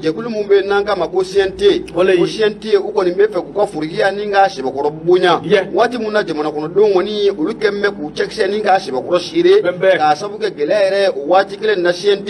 jɛkulu min bɛ n'an k'a ma ko CNT ko CNT u kɔni bɛ fɛ k'u ka forokiya nin k'a sɛbɛkɔrɔ bonya waati min na jamanakɔnɔdenw kɔni olu kɛlen bɛ k'u cɛkisɛ nin k'a sɛbɛkɔrɔ siri k'a sabu kɛ gɛlɛya yɛrɛ o waati kelen na CNT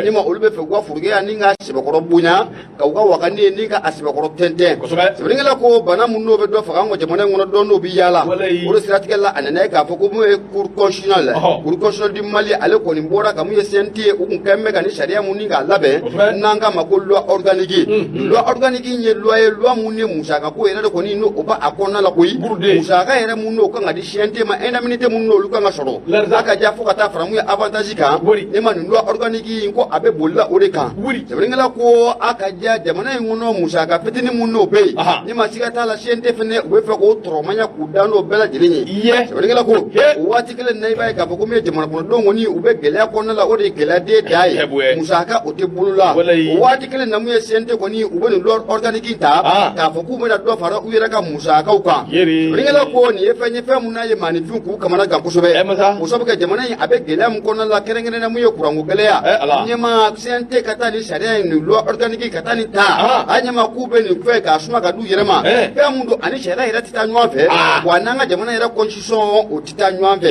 ni ma olu bɛ fɛ k'u ka forokiya nin k'a sɛbɛkɔrɔ bonya ka u ka wakani ni ka a sɛbɛkɔrɔ tɛntɛn sɛbɛnnikɛla ko bana min n'o bɛ dɔ faga an ka jamana in kɔnɔ dɔ n'o bɛ yaala o de siratigɛ la a nana ye k'a fɔ ko mun ye cour constitutionnelle cour constitutionnelle du Mali ale kɔni bɔra ka mun ye CNT u tun kɛlen bɛ ka nin sariya mun ni k'a labɛn n'an k'a ma ko loi organique hmm. loi organique in ye loi ye loi mun ye musaka ko yɛrɛ de kɔni n'o b'a kɔnɔna la koyi musaka yɛrɛ mun n'o kan ka di CNT ma indemnité mun n'olu kan ka sɔrɔ a ka diya fo ka taa fara mun ye avantage kan ne ma nin loi organique in ko a bɛ boli la o de kan sɛbɛnnikɛla ko a ka diya jamana in kɔnɔ musaka fitinin mun n'o bɛ yen ne ma siga t'a la CNT fɛnɛ u bɛ fɛ k'o tɔrɔmanya k'u dan n'o bɛɛ lajɛlen ye sɛbɛnnikɛla ko o waati kelen na i b'a ye k'a fɔ ko min ye jamana kɔnɔdenw kɔni u bɛ gɛlɛya kɔnɔna la o de ye gɛlɛya denbaya musaka o tɛ bolo la o waati kelen na mun ye CNT kɔni u bɛ nin loi organique in ta ah. k'a fɔ k'u bɛna dɔ fara u yɛrɛ ka musakaw kan sɛbɛnnikɛla ko nin ye fɛn ye fɛn mun n'a ye maaninfin k'u kamana gan kosɛbɛ eh, o sabu kɛ jamana in a bɛ gɛlɛya min kɔnɔna la kɛrɛnkɛrɛnnenya mun ye kuranko gɛlɛya eh, ɲɛma CNT ka taa nin sariya in nin loi organique ka taa nin ta ah. a ɲɛma k'u bɛ nin fɛn k'a suma ka d'u yɛrɛ ma eh. fɛn mun don ani sariya yɛrɛ tɛ taa ɲɔgɔn fɛ ah. wa n'an ka jamana yɛrɛ sɔn o tɛ taa ɲɔgɔn fɛ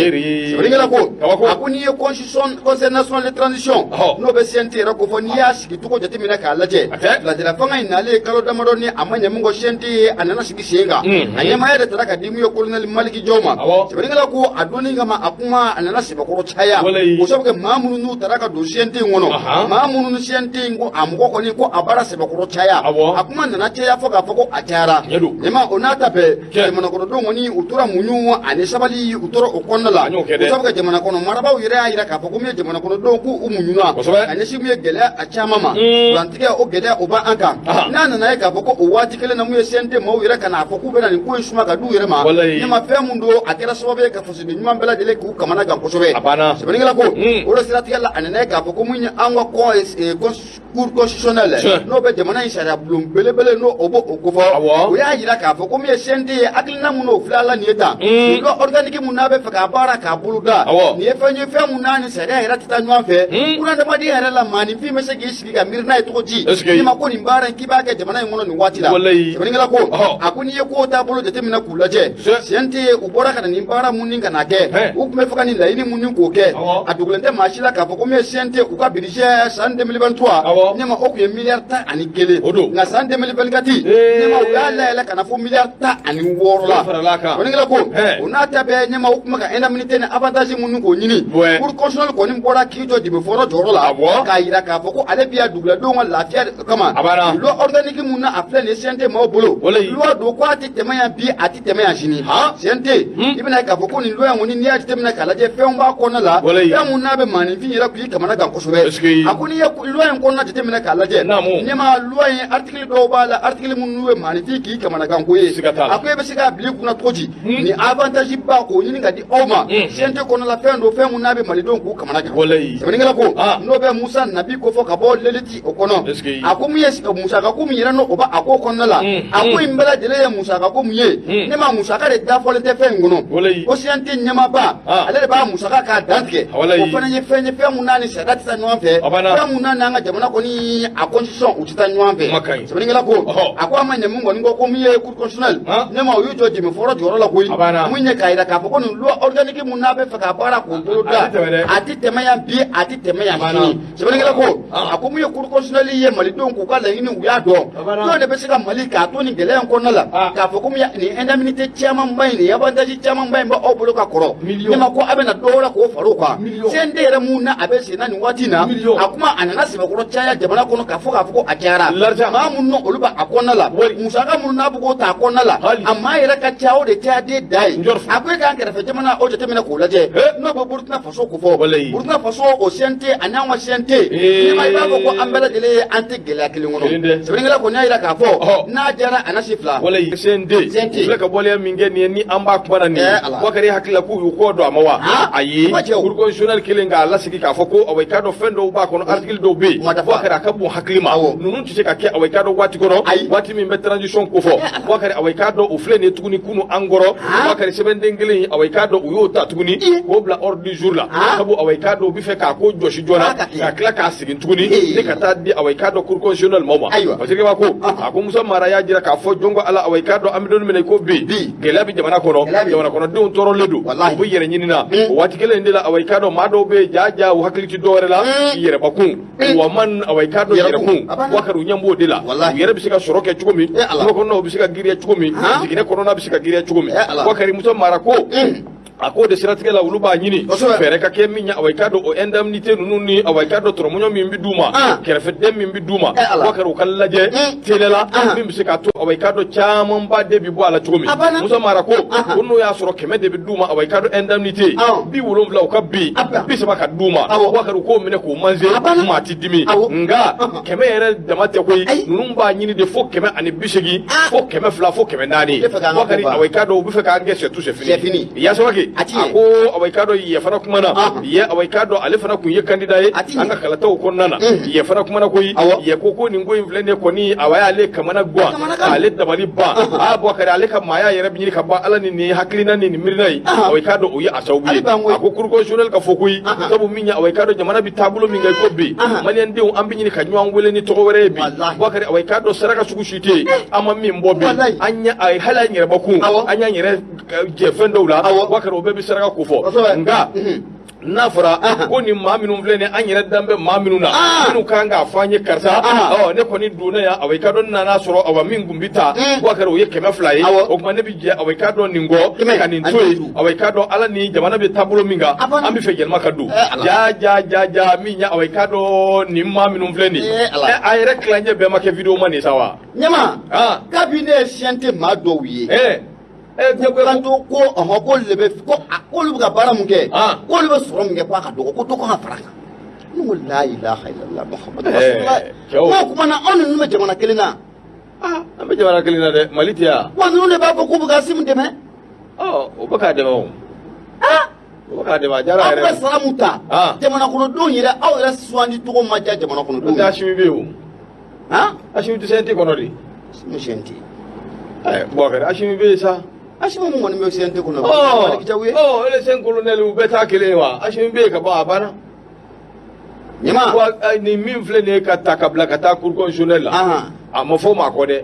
sɛbɛnnikɛla ko a ko n'i ye constitution conseil national de transition n'o bɛ CNT yɛrɛ kofɔ n'i y'a sigi cogo jateminɛ k'a lajɛ ladira fanga in nalen kalo damadɔ ni a ma ɲɛ min kɔ CNT ye a nana sigi sen kan a ɲɛmaaya de taara ka di min ye colonel Maliki Jaw ma sɛbɛnnikɛla ko a donni kama a kuma a nana sɛbɛkɔrɔ caya o sabu kɛ maa minnu n'u taara ka don CNT in kɔnɔ maa minnu ni CNT in ko a mɔgɔ kɔni ko a baara sɛbɛkɔrɔ caya a kuma nana caya fo k'a fɔ ko a cayara ɲɛma o n'a ta bɛɛ jamana kɔnɔdenw kɔni u tora muɲu ani sabali u tora o kɔnɔna la o sabu kɛ jamana kɔnɔ marabaaw yɛrɛ y'a jira k'a fɔ ko min ye jamana kɔnɔdenw k'u muɲuna ka ɲɛsin min ye gɛlɛya a caman ma kurantigɛ o gɛlɛya o b'an kan n'a nana ye k'a fɔ ko o waati kelen na mun ye CNT maaw yɛrɛ ka n'a fɔ k'u bɛna nin ko in suma ka d'u yɛrɛ ma ɲɛma fɛn min don a kɛra sababu ye ka fasoden ɲuman bɛɛ lajɛlen k'u kamana gan kosɛbɛ sɛbɛnnikɛla ko o de siratigɛ la a nana ye k'a fɔ ko mun ye an ka kɔn cour constitutionnelle Tiɲɛ. n'o bɛ jamana in sariya bulon belebele n'o o b'o o kofɔ Awɔ. o y'a jira k'a fɔ ko min ye CNT ye hakilina min n'o filɛ la nin ye tan Mm. loi organique min n'a bɛ fɛ k'a baara k'a bolo da Awɔ. nin ye fɛn ye fɛn min n'a ni sariya yɛrɛ tɛ taa ɲɔgɔn fɛ Mm. bunadamaden yɛrɛ la maaninfin bɛ se k'i sigi ka miiri n'a ye cogo di Est-ce que- n'i ma ko nin baara in k'i b'a kɛ jamana in kɔnɔ nin waati la Walayi. sɛbɛnnikɛla ko Ɔhɔ. a ko n'i ye kow taabolo jateminɛ k'u lajɛ Se- CNT ye u bɔra ka na ni baara minnu ka na kɛ u tun bɛ fɛ ka nin laɲini minnu k'o kɛ a dogolen tɛ maa si la k'a fɔ ko min ye CNT u ka budget san deux mille vingt-trois ne ma o tun ye miliyari tan ani kelen nka san deux mille vingt-quatre ne ma u y'a layɛlɛn ka na fo miliyari tan ani wɔɔrɔ la sɛbɛnnikɛla ko u n'a ta bɛɛ ɲɛma u tun bɛ ka indemnité ni avantage minnu k'o ɲini cour constitutionnelle kɔni bɔra k'i jɔ dibi fɔlɔ jɔyɔrɔ la k'a jira k'a fɔ ko ale bɛ yan duguladenw ka lafiya kama loi organique mun na a filɛ nin CNT maaw bolo don tɛmɛ yan bi a tɛ tɛmɛ yan sini CNT i bɛn'a ye k'a fɔ ko nin loi in kɔni n'i y'a jateminɛ k'a lajɛ fɛnw b'a kɔnɔna la fɛn mun n'a bɛ maaninfin yɛrɛ k'i kamanagan kosɛbɛ a ko n'i ye loi in kɔnɔna jateminɛ k'a lajɛ ɲɛma loi in article dɔw b'a la article minnu bɛ maaninfin k'i kamanagan ko ye a ko e bɛ se k'a bila i kunna cogo di nin avantage ba k'o ɲini ka di aw ma CNT kɔnɔna la fɛn don fɛn mun n'a bɛ malidenw k'u kamanagan sɛbɛnnikɛla ko n'o bɛ musa nabi kofɔ ka bɔ L'Élite o kɔnɔ a ko mun ye musaka ko min yɛrɛ n'o o b'a a ko kɔnɔna la mm, a ko mm. in bɛɛ lajɛlen ye musaka ko mun ye mm. ne ma musaka de dafɔlen tɛ fɛn in kɔnɔ ko CNT ɲɛmaaba ah. ale de b'a musaka k'a dantigɛ ah, o fana ye fɛn ye fɛn mun n'a ni sariya tɛ taa ɲɔgɔn fɛ fɛn mun n'a n'an ka jamana kɔni a constitution u tɛ taa ɲɔgɔn fɛ sɛbɛnnikɛla ko a ko a ma ɲɛ mun kɔni ko min ye cour constitutionnelle ah. ne ma o y'u jɔ dɛmɛ fɔlɔ jɔyɔrɔ la koyi mun ye k'a jira k'a fɔ ko nin loi organique mun n'a bɛ fɛ ka baara k'o bolo da a tɛ tɛmɛ yan bi a tɛ tɛmɛ yan sini sɛbɛnnikɛla ko a ko mun ye cour constitutionnelle ye malidenw k'u ka laɲini u y'a dɔn jɔn de bɛ se ka mali k'a to nin gɛlɛya in kɔnɔna la k'a fɔ ko mun ya- nin indemnité camanba in nin avantage camanba in bɛ aw bolo ka kɔrɔ ne ma ko a bɛna dɔ wɛrɛ k'o far'o kan CNT yɛrɛ mun na a bɛ sen na nin waati in na a kuma a nana sɛbɛkɔrɔ caya jamana kɔnɔ k'a fɔ k'a fɔ ko a cayara maa minnu na olu b'a kɔnɔna la musaka minnu n'a bɛ k'o ta a kɔnɔna la a maa yɛrɛ ka ca o de cayaden da ye a ko e k'an kɛrɛfɛ jamana o jateminɛ k'o lajɛ n'o bɛ burukina faso ko fɔ burukina faso o CNT ani an ka CNT ne ma i b'a fɔ ko an bɛɛ lajɛlen ye an tɛ gɛlɛya kelen kɔnɔ sɛbɛnnikɛla kɔni y'a jira k'a fɔ n'a diyara a na si fila CNT filɛ ka bɔliya min kɛ nin ye ni an b'a kuma na nin ye Boubacar hakili la k'u y'u kɔ don a ma wa ayi cour constitutionnelle kɛlen k'a lasegin k'a fɔ ko awa i k'a dɔn fɛn dɔw b'a kɔnɔ article dɔw bɛ yen Boubacar a ka bon hakili ma ninnu tɛ se ka kɛ awa i k'a dɔn waati kɔnɔ waati min bɛ transition ko fɔ Boubacar awa i k'a dɔn o filɛ nin ye tuguni kunu an kɔrɔ Boubacar sɛbɛnden kelen in awa i k'a dɔn u y'o ta tuguni k'o bila ordre du jour la sabu awa i k'a dɔn u bɛ fɛ k'a ko jɔsi joona ka tila k'a segin tuguni ni ka taa di awa i k'a dɔn cour constitutionnelle maaw ma parce que b'a ko a ko musa mara y'a jira k'a fɔ jɔn ko ala awa i k'a dɔn an bɛ don min na i ko bi gɛlɛya bɛ jamana kɔnɔ jamana kɔnɔdenw tɔɔrɔlen don u b'u yɛrɛ ɲini na o waati kelen in de la awa i k'a dɔn maa dɔw bɛ yen jaa jaa u hakili tɛ dɔwɛrɛ la yɛrɛ bakun Eh. walima awa i k'a dɔn yɛrɛkun Boubacar u ɲɛ b'o de la u yɛrɛ bɛ se ka sɔrɔ kɛ cogo min kungo eh, kɔnɔnaw bɛ se ka giriya cogo min jiginɛ kɔnɔna bɛ se ka giriya cogo min eh, Boubacar musa mara ko mm. a ko de siratigɛ la olu b'a ɲini fɛɛrɛ ka kɛ min ɲɛ awa i k'a dɔn o indemnité ninnu ni awa i k'a dɔn tɔrɔmɔɲɔ min bɛ d'u ma ah. kɛrɛfɛden min bɛ d'u ma Boubacar u k'a lajɛ mm. teliya la ah. min bɛ se k'a to awa i k'a dɔn camanba de bɛ bɔ a la cogo min musa mara ko ah, ko n'o y'a sɔrɔ kɛmɛ de bɛ d'u ma awa i k'a dɔn indemnité bi wolonwula u ka bin bi saba ka d'u ma Bɔkari u k'o minɛ k'o manger maa ti dimi nka kɛmɛ yɛrɛ dama tɛ koyi ninnu b'a ɲini de fo kɛmɛ ani bi seegin ah. fo kɛmɛ fila fo kɛmɛ naani Bɔkari awa i k'a dɔn u bɛ fɛ k'an kɛ c'est tout c'est fini Ye Samake a ko awa i k'a dɔn Ye fana kumana ah. ye awa i k'a dɔn ale fana tun ye kandida ye an ka kalataw kɔnɔna na ye fana kumana koyi ye ko ko nin ko in filɛ ne kɔni awa y'ale kamana gan ale dabali ban a Bɔkari ale ka maaya yɛrɛ bɛ ɲini ka ban ala ni nin hakilina ni nin miirina ye awa i k'a dɔn o ye a sababu ye a ko cour constitutionnelle k'a fɔ koyi sabu min ye awa i k'a dɔn jamana bɛ taabolo min kan i ko bi maliyɛndenw an bɛ ɲini ka ɲɔgɔn wele ni tɔgɔ wɛrɛ ye bi Bɔkari awa i k'a dɔn saraka sugu si tɛ yen an ma min bɔ bi an ɲɛ hali an yɛrɛ bakun an y'an yɛrɛ jɛ fɛn dɔw la Bɔkari o bɛɛ bɛ saraka ko fɔ nka n'a fɔra ko nin maa minnu filɛ nin an yɛrɛ dan bɛ maa minnu na minnu kan k'a fɔ an ye karisa ne kɔni donna yan awa i k'a dɔn n nana sɔrɔ awa min kun bɛ ta Bɔkari o ye kɛmɛ fila ye o tuma ne bɛ jɛ awa i k'a dɔn nin kɔ ka nin to yen awa i k'a dɔn ala ni jamana bɛ taabolo min kan an bɛ fɛ yɛlɛma ka don ja ja ja ja min ya awa i k'a dɔn nin maa minnu filɛ nin a yɛrɛ tilancɛ bɛɛ ma kɛ videomani sa wa ɲɛma kabi ne ye CNT maa dɔw ye Eh, kan to ko ɔhɔ ko le bɛ ko k'olu bɛ ka baara mun kɛ ah. k'olu bɛ sɔrɔ mun kɛ ko a ka dɔgɔ ko dɔ kan ka fara a kan ne ko la ilaha illallah muhammadu eh, rasulullah ko kuma na anw ninnu bɛ jamana kelen na ah, an bɛ jamana kelen na dɛ mali tɛ yan wa ninnu de b'a fɔ k'u bɛ k'asimi dɛmɛ ɔ oh, u bɛ k'a dɛmɛ o ah! k'a dɛmɛ a diyara yɛrɛ aw bɛ sara mun ta jamanakɔnɔdenw yɛrɛ aw yɛrɛ sugandi cogo ma diya jamanakɔnɔdenw n'o tɛ asimi bɛ yen o han asimi tɛ CNT kɔnɔ dɛ asimi CNT ɛɛ Bɔkari asimi bɛ yen sa asimi mɔgɔ min bɛ CNT kɔnɔ o ye Maliki Jaw ye ɔ les cinq colonels u bɛɛ t'a kelen ye wa asimi bɛ yen ka bɔ a banna ɲama nin min filɛ nin ye k'a ta k'a bila ka taa cour constitutionnelle la a ma fɔ o ma kɔ dɛ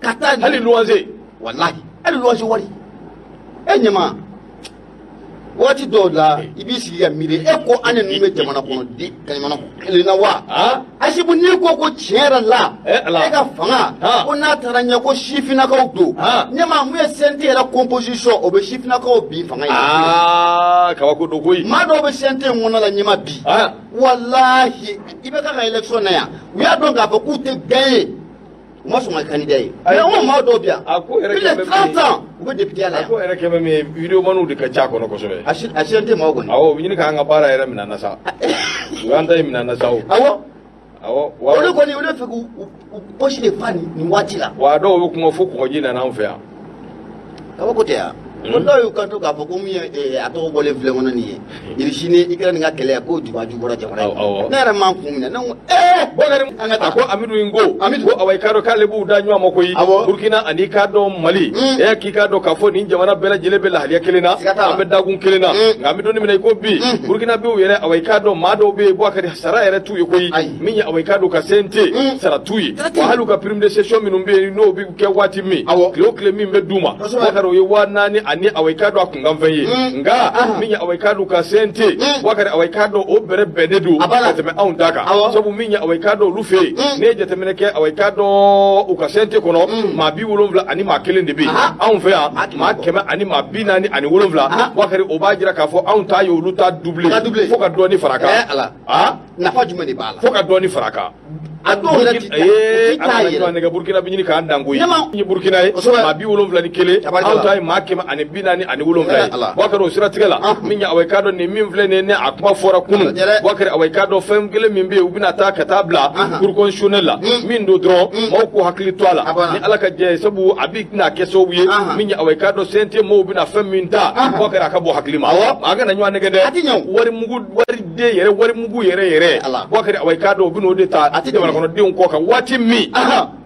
ka taa hali luwanse walahi hali luwanse wari e ɲɛma waati dɔw la i b'i sigi ka miiri e ko an ni ninnu bɛ jamana kɔnɔ di ka jamana kelen na wa a sabu n'i ko ko tiɲɛ yɛrɛ la e ka fanga ko n'a taara ɲɛ ko sifinnakaw don ɲɛma mun ye CNT yɛrɛ composition o bɛ sifinnakaw bin fanga ye kabako don koyi maa dɔw bɛ CNT in kɔnɔ la ɲɛma bi walahi i bɛ ka ka election na yan u y'a dɔn k'a fɔ k'u tɛ gagner u ma sɔn ka kandida ye mais an ka maa dɔw bi yan plus de 30 ans u bɛ depiteya la yan a ko yɛrɛ kɛ bɛ min ye videomaniw de ka ca a kɔnɔ kosɛbɛ a CNT maaw kɔni awɔ u bɛ ɲini k'an ka baara yɛrɛ minɛ an na sa u y'an ta in minɛ an na sa o awɔ awɔ olu kɔni olu bɛ fɛ k'u posi de fa nin waati la wa a dɔw bɛ kuma fo kɔgɔji nana an fɛ yan kabako tɛ yan ko dɔw y'u kanto k'a fɔ ko min ye eh, a tɔgɔ bɔlen filɛ n kɔnɔ nin ye irisi ni ikɛrɛni ka kɛlɛ ko juba ju bɔra jamana in kɔnɔ. ne yɛrɛ m'an kun minɛ ne ko ee bɔnɛri an ka taa ko amidu in ko amidu ko awa i k'a dɔn k'ale b'u da ɲɔgɔn ma koyi burukina ani k'a dɔn mali hmm. e k'i k'a dɔn k'a fɔ nin jamana bɛɛ lajɛlen bɛ lahaliya kelen na an bɛ dakun kelen na hmm. nka an bɛ don min na i ko bi hmm. burukina bi yɛrɛ awa i k'a dɔn maa dɔw bɛ yen wakari sara yɛrɛ t'u ye koyi min ye awa i k'a dɔn u ka CNT mm. sara t'u ye wa hali u ka prime de session minnu bɛ yen n'o bɛ kɛ waati min awɔ tile o tile min bɛ d'u ma wakari o ye waa naani ani awa i k'a dɔn a kunkanfɛn ye mm. nka ah. min ye awa i k'a dɔn u ka CNT mm. wakari awa i k'a dɔn o bɛrɛ bɛnnen don ka tɛmɛ anw ta kan sabu min ye awa i k'a dɔn olu fɛ yen ne ye jateminɛ kɛ awa i k'a dɔn u ka CNT kɔnɔ maa bi wolonwula ani maa kelen de bɛ yen anw fɛ yan maa kɛmɛ ani maa bi naani ani wolonwula wakari o b'a jira k'a fɔ anw ta ye olu ta double fo ka dɔɔni fara a kan eh, ah. nafa jumɛn de b'a la fo ka dɔɔni fara a kan a dɔw yɛrɛ ti taa yɛrɛ nɛgɛ burukina bɛ ɲini k'an dan ko ye ye burukina ye maa bi wolonwula ni kelen aw ta ye maa kɛmɛ ani bi naani ani wolonwula ye wakari o siratigɛ la min ye awa i k'a dɔn nin min filɛ nin ye ne a kuma fɔra kunun wakari awa i k'a dɔn fɛn kelen min bɛ yen u bɛn'a ta ka taa bila cour constitutionnelle la min don dɔrɔn maaw k'u hakili to a la ni ala ka jɛ ye sabu a bɛna kɛ sababu ye min ye awa i k'a dɔn CNT maaw bɛna fɛn min ta wakari a ka bɔ hakili ma an kana ɲɔgɔn nɛgɛn dɛ wari mugu wari de yɛrɛ wari mugu yɛrɛ yɛrɛ wakari awa i k'a dɔn u bɛn'o de ta a tɛ jamanakɔnɔdenw kɔ kan waati min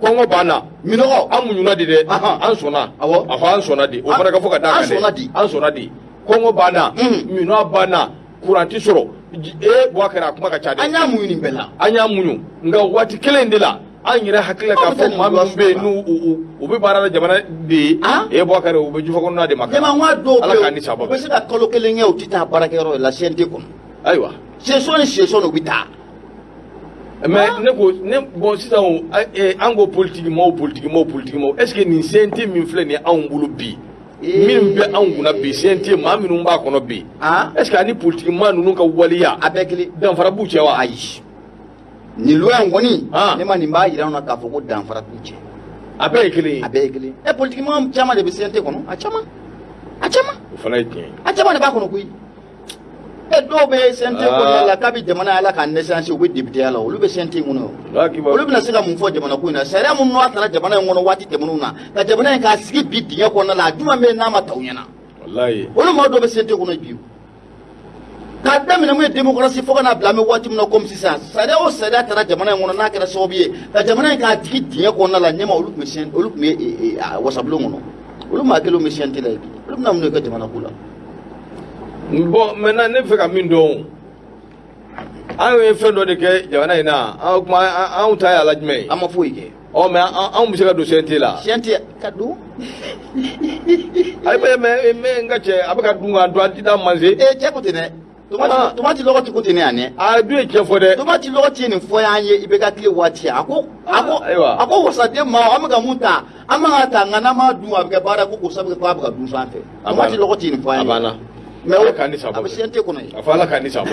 kɔngɔ b'an na minɔgɔ an muɲuna de dɛ an sɔnna awɔ an sɔnna de o fana ka fɔ ka d'a kan dɛ an sɔnna de kɔngɔ b'an na minɔgɔ b'an na kuran tɛ sɔrɔ ee wakari a kuma ka ca dɛ an y'a muɲu nin bɛɛ la an y'a muɲu nka waati kelen in de la an yɛrɛ hakili la k'a fɔ maa minnu bɛ yen n'u u u u bɛ baara la jamana de ye An? e wakari u bɛ jufa kɔnɔna de wakari ɲɛmaa dɔw ala k'a ni bɛ saba u bɛ se ka kalo kelen kɛ u tɛ taa baarakɛyɔrɔ la CNT kɔnɔ ayiwa session ni session u bɛ taa mais ne ko ne bon sisan o a- eh, an ko politiki maaw politiki maaw politiki maaw est ce que nin CNT min filɛ nin ye anw bolo bi Ee. min bɛ anw kunna bi CNT maa minnu b'a kɔnɔ bi An? est ce que ani politiki maa ninnu ka waleya a bɛɛ kelen danfara b'u cɛ wa ayi nin loi in kɔni ah. ne ma nin b'a jira an na k'a fɔ ko danfara t'u cɛ a bɛɛ ye kelen ye a bɛɛ ye kelen ɛ politiki mɔgɔ caman de bɛ CNT kɔnɔ a caman a caman o fana ye tiɲɛ ye a caman de b'a kɔnɔ koyi ɛ dɔw bɛ CNT ah. ko la kabi jamana ala ka naissance u bɛ depiteya la olu bɛ CNT in kɔnɔ olu bɛna se ka mun fɔ jamana ko in na sariya minnu n'a tara jamana in kɔnɔ waati tɛmɛnenw na ka jamana in k'a sigi bi dingɛ kɔnɔna la a jumɛn bɛ n'a ma ta u ɲɛna olu maa dɔw bɛ CNT kɔnɔ bi k'a daminɛ min ye démocratie fo ka n'a bila an bɛ waati min na comme sisan sariya o sariya tara jamana in kɔnɔ n'a kɛra sababu ye ka jamana in k'a digi dingɛ kɔnɔna la ɲɛmaa olu tun bɛ siyɛn olu tun bɛ e, e, wasabulon kɔnɔ olu maa kelenw bɛ CNT la yen olu bɛna mun de kɛ jamana ko la. bon maintenant ne bɛ fɛ ka min dɔn anw ye fɛn dɔ de kɛ jamana in na anw kuma anw ta y'a la jumɛn ye. an ma foyi kɛ. ɔ mɛ anw bɛ se ka don CNT la. CNT ka don. ayi mɛ mɛ mɛ n ka cɛ a bɛ ka dun ka dun a ti da manse. ee cɛ ko ten dɛ. tomati lɔgɔti ko ten ne yan dɛ. a dun ye cɛn fɔ dɛ. tomati lɔgɔti ye nin fɔ y'an ye i bɛ ka tile waati a ko. a ko a ko wasaden ma an bɛ ka mun ta an bɛ ka ta nka n'an m'a dun a bɛ kɛ baara ko ko sabu ko a bɛ ka dun sanfɛ. tomati lɔgɔti ye nin fɔ y'an ye. a banna. mɛ o a bɛ CNT kɔnɔ ye. a fɔ ala k'a ni sabɔ.